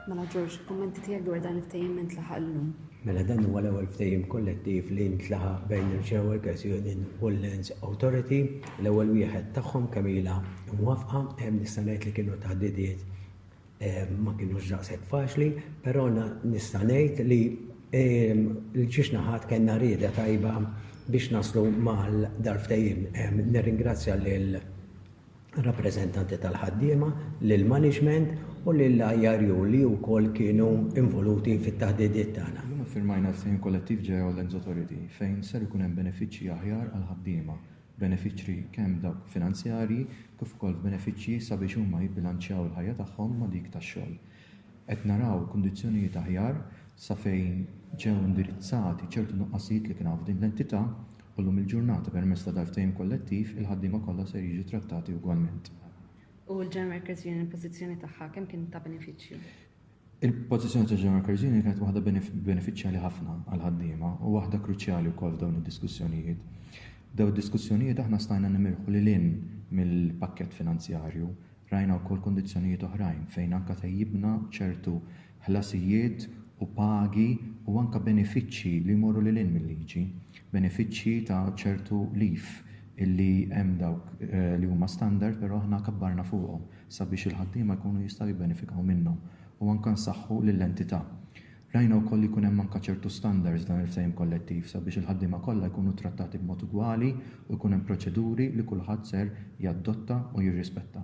Mela Ġorġ, kummenti tiegħek dwar dan il-ftehim minn tlaħaq llum. Mela dan huwa l-ewwel ftehim kollettiv li ntlaħaq bejn il-Chair Workers Union u l-Lands Authority. L-ewwel wieħed tagħhom kemm ilha mwafqa hemm nista' ngħid li kienu taħdidiet eh, ma kienu ġaqsek faċli, però nista' ngħid li eh, l-ġiex naħat kellna rieda tajba biex naslu mal darftejim. Eh, nirringrazzja lil rappreżentanti tal-ħaddiema, lill-maniġment u lill-IRU li wkoll kienu involuti fit-taħdidiet tagħna. Illum iffirmajna l-Ftehim Kollettiv Jail Lands Authority fejn ser ikun hemm benefiċċji aħjar għall-ħaddiema, benefiċċri kemm dawk finanzjarji kif ukoll f'benefiċċji sabiex huma jibbilanċjaw il-ħajja tagħhom ma' dik tax-xogħol. Qed naraw kundizzjonijiet aħjar sa fejn ġew indirizzati ċertu nuqqasijiet li kien hawn f'din l-entità u llum il-ġurnata permezz ta' dal-ftehim kollettiv il-ħaddiema kollha ser jiġu trattati ugwalment. U l-General Workers Union il-pożizzjoni tagħha kemm kienet ta' benefiċċju? Il-pożizzjoni tal-General Workers Union kienet waħda benefiċċjali ħafna għall-ħaddiema u waħda kruċjali wkoll f'dawn id-diskussjonijiet. F'dawn id-diskussjonijiet aħna stajna nimirħu lil hinn mill-pakkett finanzjarju Rajna wkoll kundizzjonijiet oħrajn fejn anke tejjibna ċertu ħlasijiet u pagi u anke benefiċċji li jmorru lil hinn mil-liġi. Benefiċċji ta' ċertu leave illi hemm dawk li huma standard però aħna kabbarna fuqhom sabiex il-ħaddiema jkunu jistgħu jibbenefikaw minnhom u anke nsaħħu lill-entità. Rajna wkoll li jkun hemm anke ċertu standards f'dan il-ftehim kollettiv sabiex il-ħaddiema kollha jkunu ttrattati b'mod ugwali u jkun hemm proċeduri li kulħadd ser jadotta u jirrispetta.